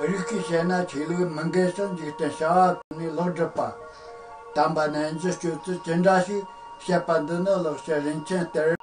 རིགས་ཀྱིས་བཤད་ན་ཆོས་ལུགས་མི་འགལ་ཞིང་འཇིག་རྟེན་བྱ་བ་ཀུན་ནས་ལོག་སྒྲུབ་པ་དམ་པ་རྣལ་འབྱོར་སྤྱོད་ཚུལ་ཅི་འདྲ་ཞིག་བཤད་པ་འདི་ནི་ལོག་བཤད་རིན་ཆེན་གཏེར།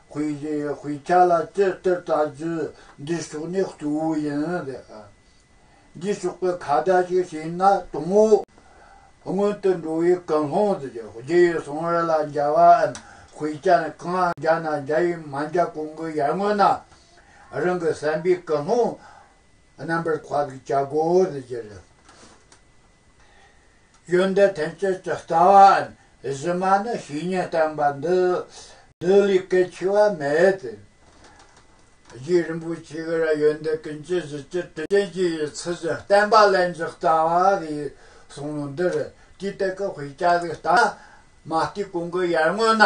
ཧུའེ་ཡེ་ཡེ་ཧུའེ་ཁྱེད་ལ་ཅིར་སྟེར་བལྟ་རྒྱུ་འདི་ཕྱོགས་ནས་གཙོ་བོ་ཡིན། འདི་ཕྱོགས་པའི་ཁ་བརྡ་ཞིག་བྱས་ན་དང་བོ། སྔོན་དུ་འགྲོ་བའི་ཀུན་སློང་དུ་གྱུར་རྗེས་ཡོད་སོང་བ་རེད་ལ་མཇལ་བའམ་ཧུའེ་ཅན་གང་ཡང་མཇལ་ན་མཇལ་བའི་མ་མཇལ་གོང་གི་ཡར་སྔོན་ན་རང་གི་བསམ་པའི་ཀུན་སློང་རྣམ་པར་དཔག་བྱ་དགོས་དུ་གྱུར། ཡོན་ཏན་ཐམས་ཅད་ཀྱི་རྩ་བའམ་གཞི་མ་ནི་བཤེས་གཉེན་བསྟན་པ་འདི་བདུད་ལས་གལ་ཆེ་བ་མེད་དེ། རྗེ་རིན་པོ་ཆེ་ཀྱི་ར་ཡོན་ཏན་ཀུན་གྱི་གཞི་སྤྱི་དྲི་ཅན་གྱི་ཡི་ཚུལ་བཞིན་བསྟན་པ་ལན་ཅིག་རྩ་བ་བའི་གསུང་ལུང་འདིར་དུས་དེ་ཀའི་དཔེ་ཆ་ལས་རྟགས་མ་ལྟོས་གོང་གི་ཡར་སྔོན་ན།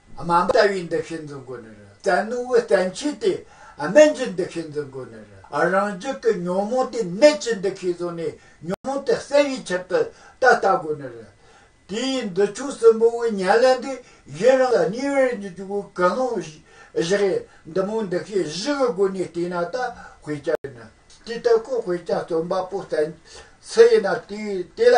དམའ་འབྲ་བའི་འདུ་ཤེས་འཛིན་དགོས་ནི་རེད་བཙན་ནུ་བོའི་བཙན་ཆོས་དེ་དམན་གྱི་འདུ་ཤེས་འཛིན་དགོས་ནི་རེད་རང་རྒྱུད་ཀྱི་ཉོན་མོངས་དེ་ནད་ཀྱི་འདུ་ཤེས་བཟུང་ནས་ཉོན་མོངས་དེ་སེལ་བའི་ཕྱིར་དུ་ད་ལྟ་དགོས་ནི་རེད། དེ་ཡི་འདི་ཆོས་གསུམ་པོ་བའི་ཉེར་ལེན་འདི་གཞན་རང་ལ་ཉེ་བའི་རིགས་ཀྱི་འཇུག་པའི་ཀུན་སློང་བཞི་རེད་འདི་མོ་འདུ་ཤེས་བཞི་གི་སྒོ་ནས་བལྟས་ན་ད་དཔེ་ཆ་ཡིན་ན་དེ་ལྟ་ཁོ་དཔེ་ཆ་རྩོམ་པ་པོ་བཙན་སུ་ཡིན་ན་དེས་དེ་ལ་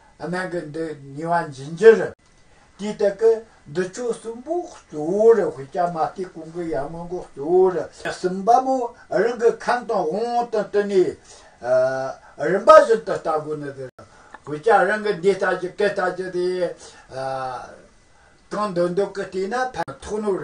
གནང་གི་འདུག་ཉིན་བ་འབྱིན་རྒྱུར། དུས་དེ་གའི་འདུ་ཆོས་གསུམ་པོ་གཙོ་བོར་དབུས་རྒྱ་མ་ཏིའི་གུང་གི་ཡར་སྔོན་གོ་གཙོ་བོར། གསུམ་པ་མོ་རང་གི་ཁམས་དང་དབང་བོ་དང་བསྟུན་ནས། རིམ་པ་བཞིན་དུ་ལྟ་དགོས་ནི་འདིར། བུ་སྐྱ་རང་གི་འདི་ལྟ་ཅི་གི་ལྟ་ཅི་དེ། གང་འདོད་འདོད་ཀི་བལྟས་ན་ཕན་ཐོགས་ནོར།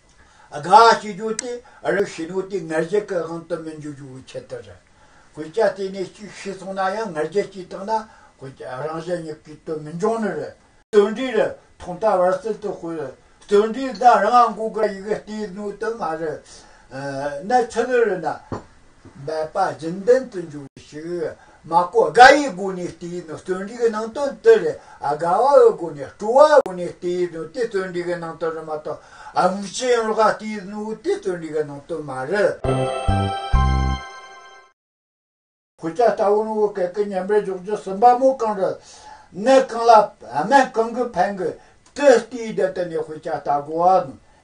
དགའ་བྱེད་རྒྱུ་དེ་རང་བྱེད་ནུས་དེ་ངར་རྒྱལ་གྱི་དབང་དུ་མི་འཇུག་རྒྱུའི་ཆེད་དུ་རེད། གོས་རྒྱ་བལྟས་ནས་གཅིག་ཤེས་སོང་ན་ཡང་ངར་རྒྱལ་གྱིས་བཏགས་ན་གོས་རྒྱ་རང་བཞིན་གཉིས་ཀའི་དོན་མི་འབྱུང་ནི་རེད། རྩོད་འབྲེལ་རེ་ཐོག་མཐའ་བར་གསུམ་དུ་སྤེལ། རྩོད་འབྲེལ་འདི་རང་དབང་སྒོས་ཀྱི་ཡིག་རྟའི་སྣོད་དུ་མ་རེད། གནས་ཚུལ་རེ་ན་འབད་པ་རྒྱུན་ལྡན་དུ་འཇུག་ཞིག་མ་ཀོ་དགའ་ཡི་སྒོ་ནས་དེ་ཡི་ནང་བརྩོན་འགྲུས་ཀྱི་ནང་དོན་དེ་རེད་དགའ་བ་འི་སྒོ་ནས་སྤྲོ་བ་འི་སྒོ་ནས་དེ་ཡི་ནང་དེ་བརྩོན་འགྲུས་ཀྱི་ནང་དོན་རེད་མ་གཏོགས་མུ་ཅི་ཡིན་ལོག་དེ་ཡི་ནང་དེ་བརྩོན་འགྲུས་ཀྱི་ནང་དོན་མ་རེད། ཁོ་ཅག་ལྟ་བུ་ནི་འི་གེ་ཀི་ཉན་པའི་འཇོག་རྒྱུ་ཟིན་པ་མོ་གང་རེད། གནས་གང་ལ་སྨན་གང་གིས་ཕན་གི། དེ་ལྟའི་རྒྱ་དེ་ནས་ཁོ་ཅག་ལྟ་དགོས་བ་ནི་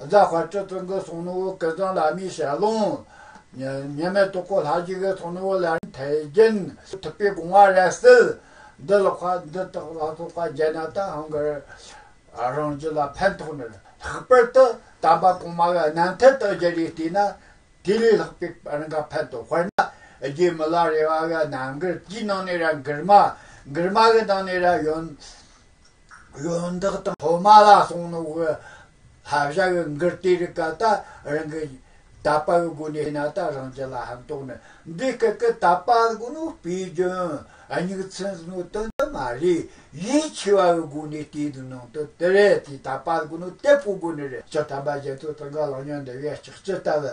རྫ་དཔའ་སྤྲུལ་སྤུན་གྱི་གསུང་ནུ་བོ་ཀི་ཙང་བླ་མའི་ཞལ་ལུང། ཉི་མའི་སྟོད་སྐོར་ལྷ་རྗེ་ཀའི་གསུང་ནུ་བོ་ལར་ཐལ་རྒྱན། ཐུབ་པའི་དགོངས་བ་རལ་གསིལ། འདི་ལ་བཀའ་འདི་དག་ལ་སོགས་པ་རྒྱན་རྣམས་དང་ཧང་གི་རང་བཞིན་ལ་ཕན་ཐོགས་ནས་ལྷག་པར་དུ་དམ་པ་གོང་མ་བའི་རྣམ་ཐར་དག་རྒྱ་རིགས་བལྟས་ན་དེ་ལས་ལྷག་པའི་རང་དགར་ཕན་ཐོགས་དཔེར་ན་རྗེ་མི་ལ་རེ་བ་བའི་རྣམ་དགར་གྱི་ནང་ནས་རང་དགར་མ་དགར་མ་གི་ནང་ནས་རང་ཡོན། གཞོན་དག་དང་ཐོག་མ་ལ་སོང་ནོ་གི་ལྷ་བྱ་བའི་འགུལ་བསྟེ་རི་ག་ད་རང་གི་ད་པ་བའི་སྒོ་ནས་ན་ད་རང་གི་ལ་ཧམ་དོག་ནི་འདི་སྐད་ཀི་ད་པ་གི་ནོ་པའི་རྒྱུན་སྙིགས་ཚིན་ཟི་ནོ་དོན་དུ་མ་རེད་ཡིད་ཆེ་བ་བའི་སྒོ་ནས་བསྟེ་དུ་ནང་དུ་དི་རེ་དེ་ད་པ་གི་ནོ་དེ་པོ་སྒོ་ནི་རེ་ཅི་ཐམ་པ་རྒྱལ་ཚོགས་ཚང་ག་ལང་ཉོན་འདི་བས་ཅིག་ཅི་ལྟ་བུ།